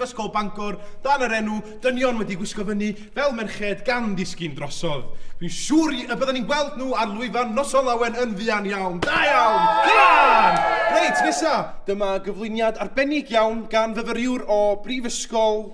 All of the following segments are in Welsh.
Ysgol Bangor dan yr enw Dynion wedi gwisgo fyny fel merched gan ddisgyn drosodd. Dwi'n siŵr i- y bydden ni'n gweld nhw ar lwyfan Noson Lawen yn fuan iawn. Da iawn! Cymra'n! Reit, nesa, dyma gyflwyniad arbennig iawn gan fyfyriwr o Brifysgol...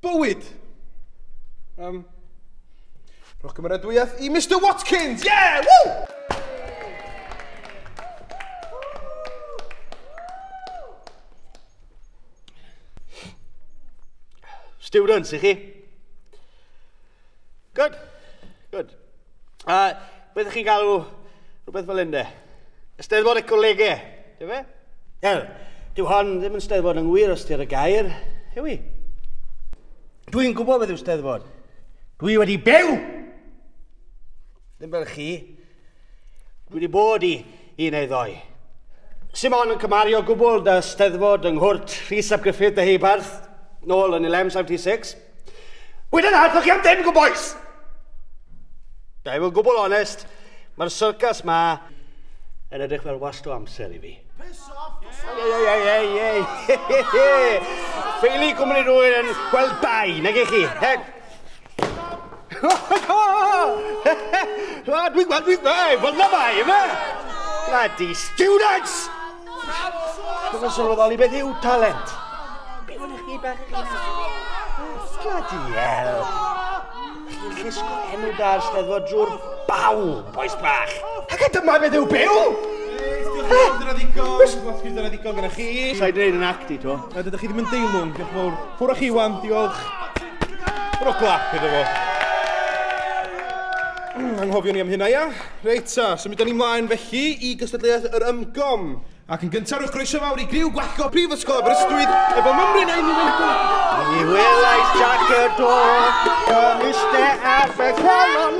Bywyd! Um, rhowch gymeradwyaeth i Mr Watkins! Yeah! Woo! Students, i chi? Good, good. A uh, beth chi'n galw rhywbeth fel ynde? Ysteddfod y colegau, dy fe? Wel, dyw hon ddim yn steddfod yng ngwir ystyr y gair, yw i? Dwi'n gwybod beth yw steddfod. Dwi wedi byw! Ddim fel chi, Wedi bod i un neu ddoi. Simon yn cymario gwbl da steddfod yng nghwrt Rhys ap Gruffydd Deheubarth, nôl yn 1176. Wedyn arthwch chi am ddim, good boys! Da i fod gwbl onest, mae'r syrcas ma yn edrych fel wast o amser i fi. Ffeili cwmni rwy'n yn gweld bai, nag i chi. Lad, dwi'n gweld, dwi'n gweld, fel na mae, yma! Bloody students! Dwi'n yn sylweddoli beth yw talent. Beth ydych chi bach yn Bloody hell! Chi'n llusgo enw da ar steddfod drwy'r baw, boes bach. Ac a dyma beth yw byw! Dyna ddigon, dyna ddigon gyda chi. Sa'i dweud yn act i to. Ydych chi ddim yn deilwng, diolch yn fawr. Ffwrdd chi, Wan, diolch. Rho glap iddo fo. Hmm, anghofio ni am hynna, ia? Reit, ta, symud da ni mlaen felly i gystadleuaeth yr ymgom. Ac yn gyntaf, rhowch groeso fawr i griw gwallgo Prifysgol Aberystwyth efo mymryn ein Iwerddon. Ni welais Jack y do, gymiste ar y colon